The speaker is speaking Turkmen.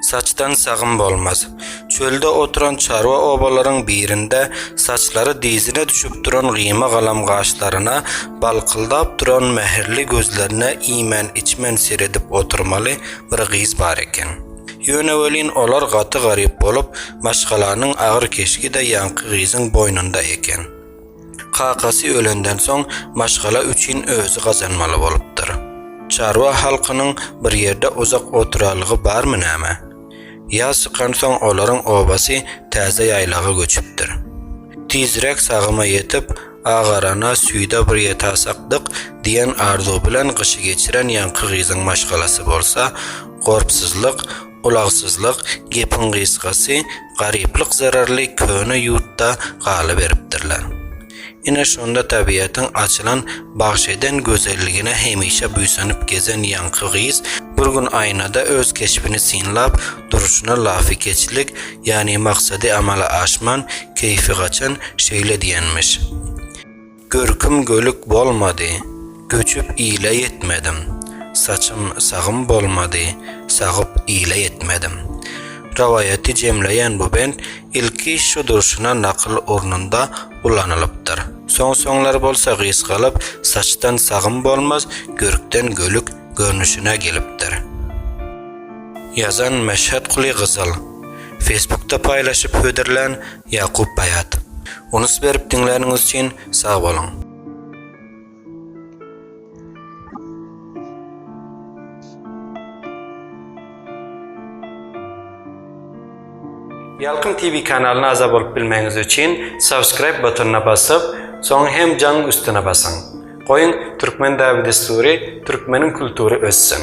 Saçdan sagym bolmaz. Çölde oturan çarwa obalaryň birinde saçlary dyzyna düşüp duran gyýma galam gaşlaryna, balkyldap duran mähirli gözlerine iýmän-içmän seredip oturmaly bir gyz bar eken. Ýöne welin olar gaty garyp bolup, maşgalanyň agyr keşgi-de ýaňky gyzyň boýnunda eken. Kakasy ölenden soň maşgala üçin özi gazanmaly bolupdyr. Çarwa halkynyň bir ýerde uzak oturalygy barmy näme? Ýaz çykansoň olaryň obasy täze ýaýlaga göçüpdir. Tizräk sagyma ýetip, agarana, süýde bir ýetasakdyk diýen arzuw bilen gyşy geçiren ýaňky gyzyň maşgalasy bolsa, gorpsyzlyk, Ulagsyzlyk, gepiň gysgasy, garyplyk zerarly köne ýurtda galyberipdirler. Ine, şonda tabiatyň açylan, bagş eden gözelligine hemişe buýsanyp gezen ýaňky gyz bir gün aýnada öz keşbini synlap durşuna lafykeçlik, ýagny maksady amala aşman, keýfi gaçan şeýle diýenmiş. Görkim gölük bolmady, göçüp ile ýetmedim, Saçym sagym bolmady, sagyp ile ýetmedim. Rowaýaty jemleýän bu bent ilki şu durşuna nakyl ornunda ulanylypdyr. Soň-soňlar bolsa gysgalyp saçdan sagym bolmaz, görkden gölük görnüşine gelipdir. Ýazan, Meşhedguly Gyzyl. Facebookda paýlaşyp hödürlän, Ýakup Baýat. Unus berip diňläniňiz üçin sag boluň. Ýalkym TV kanalyna agza bolup bilmegiňiz üçin subscribe butonyna basyp, soň hem jaň üstüne basyň. Goýuň Türkmen däbi-dessury, Türkmeniň kultury össün!